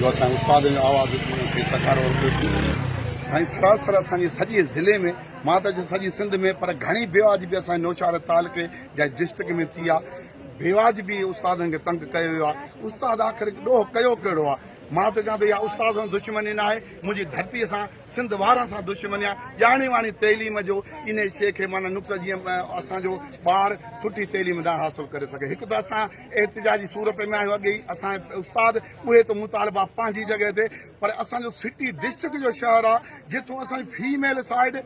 جو اسان استاد جو آواز کي سکارو ورتو ٿي سائين سرا سر اسان جي سڄي ضلعي ۾ مان ته سڄي سنڌ ۾ پر گھڻي بيواج به اسان نوشهر تعلقي جا ڊسٽرڪٽ ۾ ٿي آ بيواج به استادن کي تنگ ڪيو ويو آ استاد آخر ڏوهه ڪيو ڪهڙو آ مان ته چوان ٿو يا استاد سان دشمني نه آهي منهنجي ڌرتي سان سنڌ وارن سان دشمني آهي ڄاڻي واڻي تعليم جو ان شيء کي معنی نقصان جيئن اسان جو ٻار سٺي تعليم نه حاصل ڪري سگھي هڪ ته اسان احتجاجي صورت ۾ آهيو اڳي ئي اسان جي استاد اهي ته مطالبا پنهنجي جڳهه تي پر اسان جو سٽي ڊسٽرڪٽ جو شهر آ جتون اسان جي فيميل سائيڊ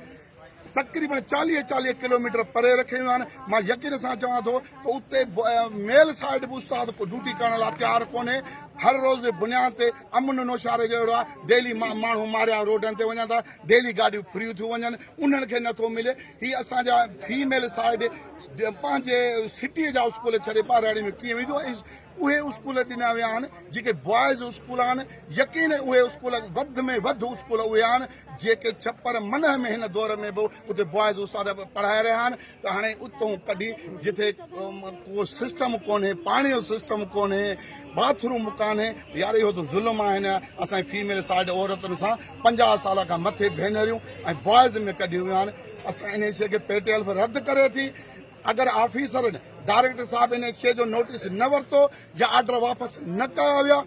تقريبن چاليهه چاليهه ڪلوميٽر پري رکي ويون آهن مان يقين سان چوان ٿو ته اتي ميل سائيڊ به استاد ڪو ڊيوٽي ڪرڻ لاء تيار ڪونهي هر روز جي بنياد تي امن نوشاري جو اهڙو آ ڊيلي ماڻهو ماريا روڊن تي وڃن ٿا ڊيلي گاڏيون فريون ٿيون وڃن انهن کي نٿو ملي هي اسان جا فيميل سائيڊ پنهنجي سٽيء جا اسڪول ڇڏي ٻهراڙيء ۾ ڪيئن ويندو ۽ اهي اسڪول ڏنا ويا آهن جيڪي بوائز اسڪول آهن يقين اهي اسڪول وڌ ۾ وڌ اسڪول اهي آهن جيڪي ڇپر منهه ۾ هن دور ۾ به اتي بوائز استاد پڙهائي رهيا آهن ته هاڻي اتون ڪڍي جتي ڪو سسٽم ڪونهي پاڻي جو سسٽم ڪونهي باٿ روم ڪانهي يار اهو ته ظلم آهي نه اسان فيميل سائيڊ عورتن سان پنجاهه سال کان مٿي ڀينريون ۽ بوائز ۾ ڪڍيون ويون آهن اسان انهيء شيء کي پي ٽي ايلف رد ڪري ٿي، اگر آفيسرن، ڊائريڪٽر صاحب انهيء شيء جو نوٽيس نه ورتو يا آرڊر واپس نه ڪيا ويا،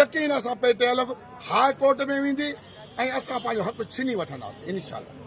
يقين اسان پي ٽي ايلف هاء ڪورٽ ۾ ويندي ۽ اسان پنهنجو حق ڇني وٺنداسين، انشاءالله.